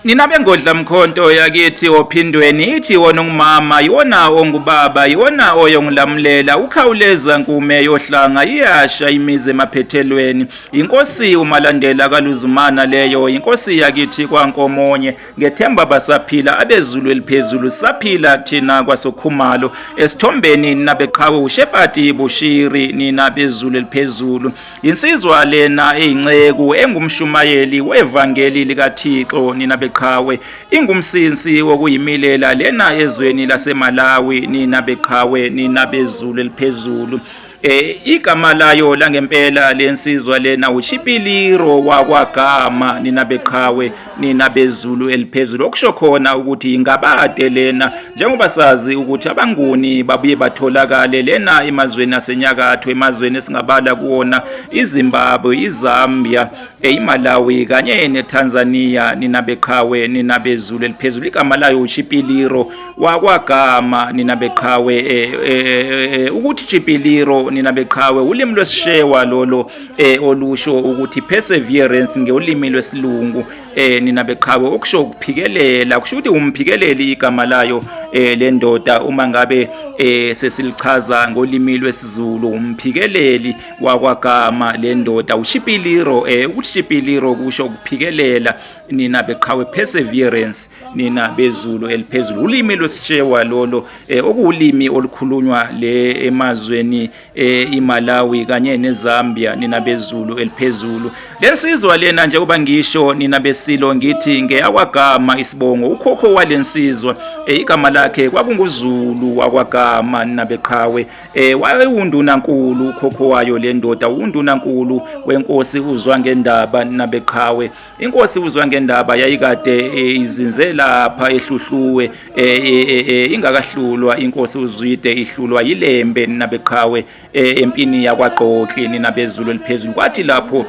Nina bengodla mkhonto yakithi ophindweni ithi wona ungumama yiwona ongubaba yiwona oyongulamulela ukhawuleza nkume yohlanga iyasha imizi emaphethelweni inkosi umalandela kaluzumana leyo inkosi yakithi kwankomonye ngethemba basaphila abezulu eliphezulu saphila thina kwasokhumalo esithombeni nabeqhawe ushepati bushiri nina bezulu eliphezulu Yinsizwa lena eyinceku engumshumayeli wevangeli likaThixo nina beqhawe ingumsinsi wokuyimilela lena ezweni laseMalawi nina beqhawe nina bezulu eliphezulu eh igama layo langempela lensizwa lena uChipiliro wakwagama nina beqhawe nina bezulu eliphezulu okusho khona ukuthi ingabade lena njengoba sazi ukuthi abanguni babuye batholakale lena emazweni asenyakatho emazweni esingabala kuwona iZimbabwe iZambia eyiMalawi kanye neTanzania nina beqhawe nina bezulu eliphezulu igama layo uChipiliro wakwagama nina beqhawe eh, eh, eh, ukuthi Chipiliro nina beqhawe ulimi lwesishewa lolo eh olusho ukuthi perseverance ngeulimi lwesilungu eh nina beqhawe okusho ukuphikelela kusho ukuthi umphikeleli igama layo eh lendoda uma ngabe eh sesilichaza ngolimi lwesiZulu umphikeleli wakwagama lendoda ushipiliro eh ukuthi shipiliro kusho ukuphikelela nina beqhawe perseverance nina bezulu eliphezulu ulimi lwesishewa lolo eh okuwulimi olukhulunywa le emazweni e, iMalawi kanye neZambia nina bezulu eliphezulu lensizwa lena njengoba ngisho nina besilo ngithi ngeyakwagama isibongo ukhokho walensizwa e, igama lakhe kwakunguzulu wakwagama nina beqhawe e, wayewunduna nkulu ukhokho wayo lendoda unduna nkulu wenkosi uzwa ngendaba nina beqhawe inkosi uzwa ngendaba yayikade eh, izinze lapha ehluhluwe eh, eh, ingakahlulwa inkosi uzwide ihlulwa yilembe nabeqhawe empini yakwaqoqi ninabezulu eliphezulu kwathi lapho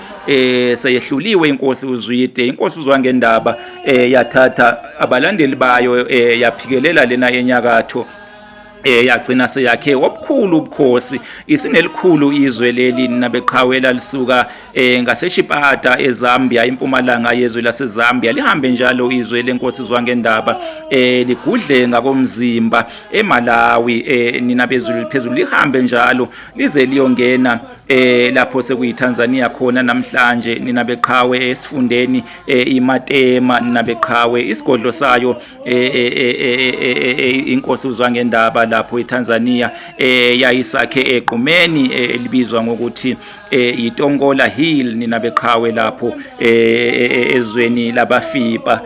seyehluliwe inkosi uzwide inkosi uzwa ngendaba yathatha abalandeli bayo yaphikelela lena enyakatho eh yagcina seyakhe obukhulu ubukhosi isinelikhulu izwe leli nabeqhawela lisuka eh ngaseshipata eZambia impumalanga yezwe laseZambia lihambe njalo izwe lenkosi zwangendaba eh ligudle ngakomzimba eMalawi eh nina bezulu liphezulu lihambe njalo lize liyongena eh lapho sekuyiTanzania khona namhlanje nina beqhawe esifundeni eh iMatema nina beqhawe isigodlo sayo Eh, eh, eh, inkosi uzwa ngendaba lapho eTanzania yayisakhe egqumeni elibizwa ngokuthi yiTongola Hill nina beqhawe lapho ezweni labafipa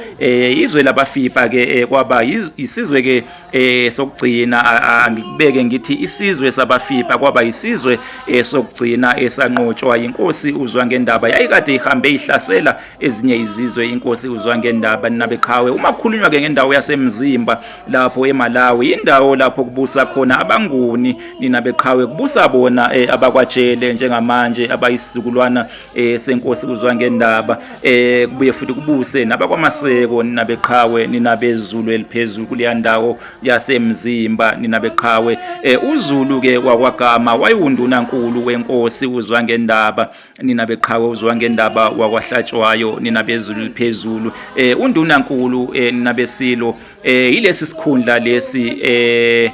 izwe labafipa ke kwaba isizwe ke sokugcina angikubeke ngithi isizwe sabafipa kwaba isizwe sokugcina esanqotshwa inkosi uzwa ngendaba yayikade ihambe ihlasela ezinye izizwe inkosi uzwa ngendaba nabeqhawe uma kukhulunywa ke ngendawo yasemzimba lapho eMalawi indawo lapho kubusa khona abanguni ninabeqhawe kubusa bona eh, abakwajele njengamanje abayisizukulwana eh, senkosi uzwa ngendaba eh, kubuye futhi kubuse nabakwamaseko ninabeqhawe ninabezulu eliphezulu kuleya ndawo yasemzimba ninabeqhawe eh, uzulu ke wakwagama wayiwunduna nkulu wenkosi uzwa ngendaba nina beqhawe uzwa ngendaba wakwahlatshwayo nina bezulu liphezulu eh undunankulu eh nina besilo eh yilesi sikhundla lesi eh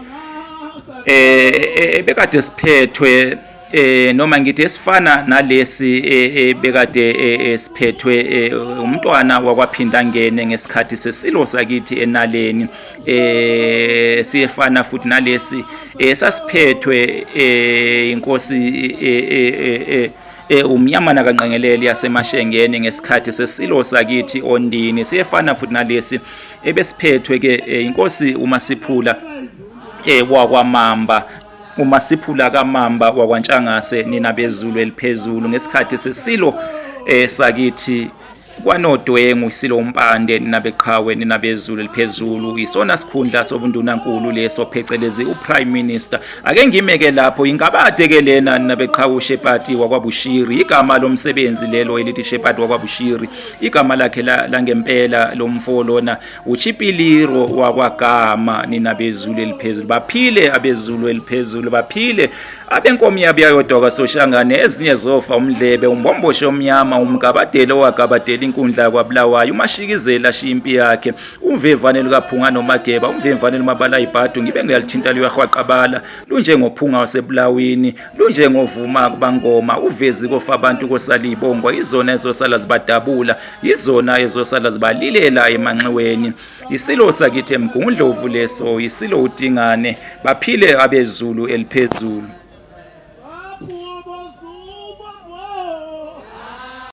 eh bekade siphethwe eh noma ngithi esifana nalesi eh, eh, bekade eh, esiphethwe umntwana wakwaphinda ngene ngesikhathi sesilo sakithi enaleni eh siyefana futhi nalesi eh sasiphethwe eh inkosi eh, eh, eh, eh umnyamana kanqengeleli yasemashengeni ngesikhathi sesilo sakithi ondini siyefana futhi nalesi ebesiphethwe ke eh, inkosi uma siphula eh wakwamamba uma siphula kamamba wakwantshangase nina bezulu eliphezulu ngesikhathi sesilo eh sakithi kwanodwengu isilo umpande ninabeqhawe ninabezulu eliphezulu isona sikhundla sobundunankulu leso phecelezi uprime minister ake ngimeke lapho ingabade ke lena ninabeqhawe ushepati wakwabushiri igama lomsebenzi lelo elithi shepati wakwabushiri igama lakhe langempela lomfo lona uchipiliro wakwagama nina bezulu eliphezulu baphile abezulu eliphezulu baphile abenkomo yabo yayodwa kwasoshangane ezinye zofa umdlebe umbombosho omnyama umgabadeli owagabadela inkundla yakwabulawayo umashikizela ashiya impi yakhe umvemvane lukaphunga nomageba umvemvane lumabala ibhadu ngibe ngiyalithinta luyahwaqabala lunjengophunga wasebulawini lunjengovuma kubangoma uvezi kofa abantu kosala iy'bongo izona ezosala zibadabula yizona ezosala zibalilela emanxiweni yisilo sakithi emgungundlovu leso yisilo udingane baphile abezulu eliphezulu